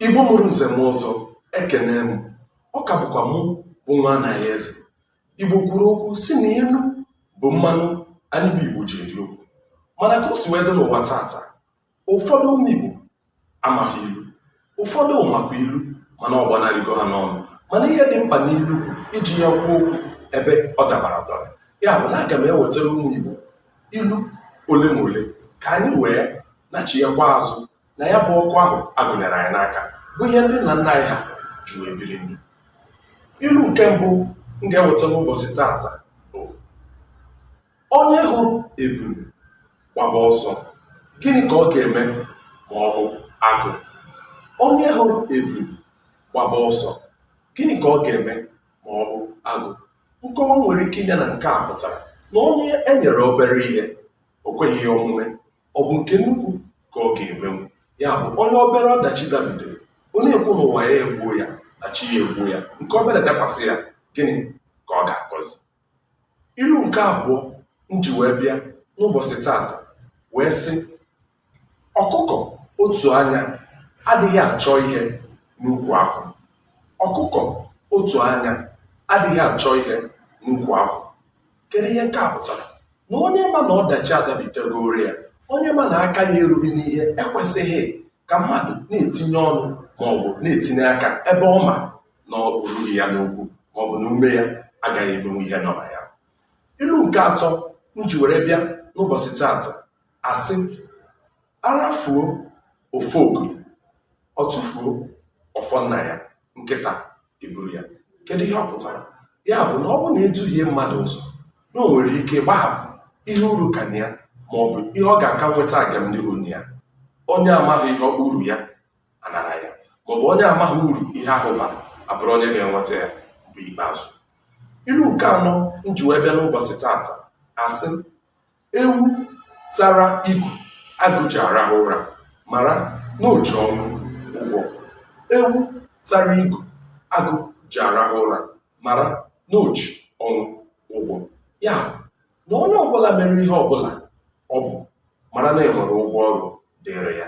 igbo mụrụ nze mụọ ọzọ ekene m ọ ka bụkwa mụ bụ nwa anaghị eze igbo kwuru okwu sị na ilu bụ mmanụ anyị bụ igbo ji eri okwu mana ka o si wee dị n'ụwa tata ụfọdụ ụmụ igbo amaghị ilu ụfọdụ makwa ilu mana ọ gbanarịgo ha n'ọnụ mana ihe dị mkpa n'ilu bụ iji ya kwuo okwu ebe ọ dabara adaba ya bụ na aga m ewetara ụmụ igbo ilu ole ma ole ka anyị wee nachiyekwa azụ na ya bụ ọkụ ahụ a gụnyere anyị n'aka bụ ihe ndị nna nna anyị ha ji wee biri ndụ ilu nke mbụ m ga-eweta n'ụbọchị tata bụ onye hụrụ ebulu gbaba ọsọ gịnị ka ọ ga-eme ma ọ hụ agụ onye hụrụ ebulu gbaba ọsọ gịnị ka ọ ga-eme ma ọ hụ agụ nkọwa m nwere ike inye na nke a pụtara na onye e nyere obere ihe o kweghị ya omume ọ bụ nke nnukwu ka ọ ga-emenwu ya bụ onye obere ọdachi dabitere o na-ekwu na ụwa ya egbuo ya na chi ya egbuo ya nke obere dakwasị ya gịnị ka ọ ga-akọzi ilu nke abụọ m ji wee bịa n'ụbọchị tata wee sị ọkụkọ otu anya adịghị achọ ihe n'ukwu akwụ ọkụkọ otu anya adịghị achọ ihe n'ukwu akwụ kedu ihe nke a pụtara na onye ma na ọdachi adabitegoro ya onye ma na aka ya erughị n'ihe ekwesịghị ka mmadụ na-etinye ọnụ ma ọ bụ na-etinye aka ebe ọ ma na o rurughị ya n'okwu ma ọ bụ na ume ya agaghị emenwu ihe nọ na ya ilu nke atọ m ji were bịa n'ụbọchị taata asị a rafuo ofogori ọ tụfuo ọfọ nna ya nkịta eburu ya kedu ihe ọ pụtara ya bụ na ọ bụ na e duhie mmadụ ụzọ na o nwere ike gbahapụ ihe uru ka na ya ma ọ bụ ihe ọ ga-aka nweta agamnihu na ya onye amaghị ihe ruru ya a nara ya maọbụ onye amaghị uru ihe ahụ bara abụrụ onye ga-enweta ya bụ ikpeazụ ilu nke anọ m ji wee bịa n'ụbọchị tata asị Ewu tara igu agụ ji arahụ ụra mara na o ji ọnwụ ụgwọ. Ewu tara igu agụ ji arahụ ụra mara na o ji ọnwụ ụgwọ. Ya bụ, na onye ọbụla mere ihe ọbụla ọ bụ mara na e nwere ụgwọ ọrụ dịịrị ya.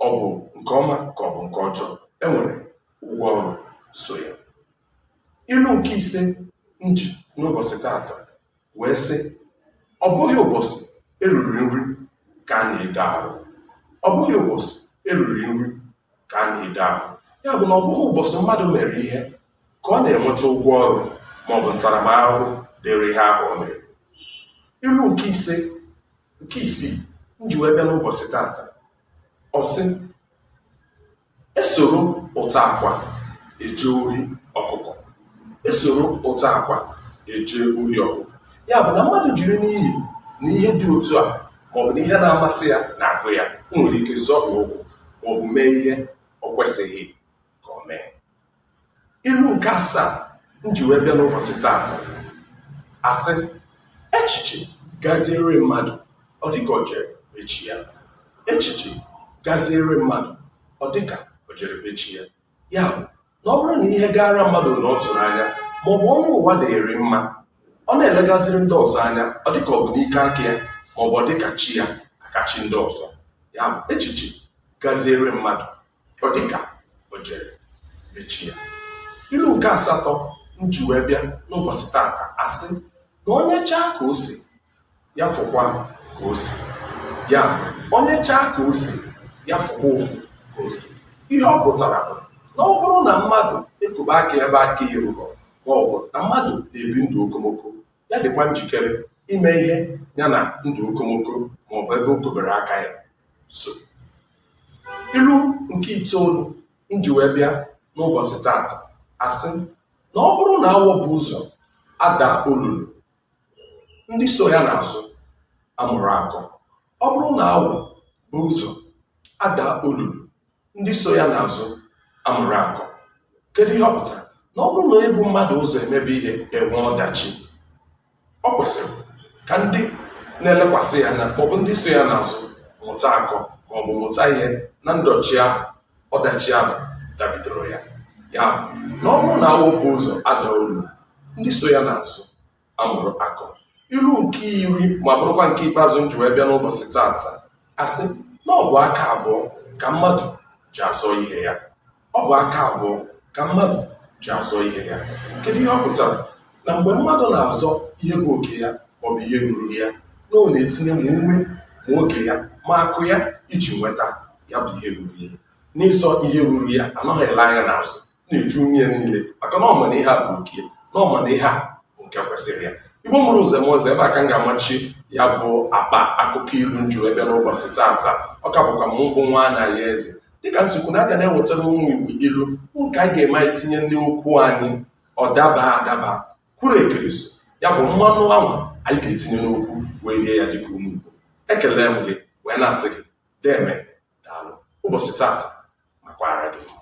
ọ bụ nke ọma ka ọ bụ nke ọjọọ e nwere ụgwọ ọrụ so ya ilu nke ise m ji n'ụbọchị tata wee sị ọ bụghị ụbọchị e riri nri ka a na-ede ahụ ọ bụghị ụbọchị e riri nri ka a na-ede ahụ ya bụ na ọ bụghị ụbọchị mmadụ mere ihe ka ọ na-enweta ụgwọ ọrụ maọbụ ntaramahụhụ dịrị ihe ahụ o mere ilu nke ise nke isii m ji wee bịa n'ụbọchị tata ọ sị esoro ụtọ akwa eje ori ọkụkọ esoro ụtọ akwa eje ori ọkụkọ ya bụ na mmadụ jiri n'ihi na ihe dị otu a maọbụ na ihe na-amasị ya na-agụ ya o nwere ike zọhie ụkwụ maọbụ mee ihe ọ kwesịghị ka o mee ilu nke asaa m ji wee bịa n'ụbọchị taata asị echiche gaziere mmadụ ọ dịka o jere be chi ya echiche gaziere mmadụ ọ dịka o jere be chi ya ya bụ na ọ bụrụ na ihe gaara mmadụ na ọ tụrụ anya ma ọ bụ onye ụwa dịrị mma ọ na-elegaziri ndị ọzọ anya ọ dịka ọ bụ n'ike aka ya ma ọ bụ ọ dịka chi ya aka chi ndị ọzọ ya bụ echiche gaziere mmadụ ọ dịka o jere be chi ya ilu nke asatọ m ji wee bịa n'ụbọchị tata asị na onye chaa ka ose ya fụkwa ka ose ya onye chaa ka ose ya fụkwa ụfụ ka ose ihe ọ pụtara bụ na ọ bụrụ na mmadụ ekobe aka ebe aka ya erurọ ma ọ bụ na mmadụ na-ebi ndụ okomoko ya dịkwa njikere ime ihe ya na ndụ okomoko ma ọ bụ ebe o kobere aka ya so ilu nke itoolu m ji wee bịa n'ụbọchị taata asị na ọ bụrụ na awọ bu ụzọ ada olulu ndị so ya n'azụ amụrụ akọ ọ bụrụ na awọ bu ụzọ ada olulu ndị so ya n'azụ amụrụ akọ kedu ihe ọ pụtara na ọ bụrụ na onye bu mmadụ ụzọ emebe ihe enwe ọdachi ọ kwesịrị ka ndị na-elekwasị ya anya maọbụ ndị so ya n'azụ mụta akọ maọbụ mụta ihe na ndọchi ahụ ọdachi ahụ dabidoro ya ya na ọ bụrụ na awọ bu ụzọ ada olulu ndị so ya n'azụ amụrụ akọ ilu nke iri ma bụrụkwa nke ikpeazụ m ji wee bịa n'ụbọchị taata asị na ọ bụ aka abụọ ka mmadụ ji azọ ihe ya ọ bụ aka abụọ ka mmadụ ji azọ ihe ya kedu ihe ọ pụtara na mgbe mmadụ na-azọ ihe bụ oke ya maọbụ ihe ruru ya na ọ na-etinye ma ume ma oge ya ma akụ ya iji nweta ya bụ ihe ruru ya n'ịzọ ihe ruru ya anaghị ele anya n'azụ na-eji ume niile maka na ọ ma na ihe a bụ nke ya na ọ ma na ihe a bụ nke kwesịrị ya igbo mụrụ nze mụọ ọzọ ebe a ka m ga-amachi ya bụ akpa akụkọ ilu m ji wee bịa n'ụbọchị taata ọ ka bụkwa m bụ nwaanyị eze dịka m si kwuo na a ga na-ewetara ụmụ igbo ilu bụ nke anyị ga-eme anyị tinye n'okwu anyị ọ daba adaba kwuru ekiriso ya bụ mmanụ anwa anyị ga-etinye n'okwu wee rie ya dịka ụmụ igbo ekelee m gị wee na-asị gị deme daalụ ụbọchị tata makwara gị mma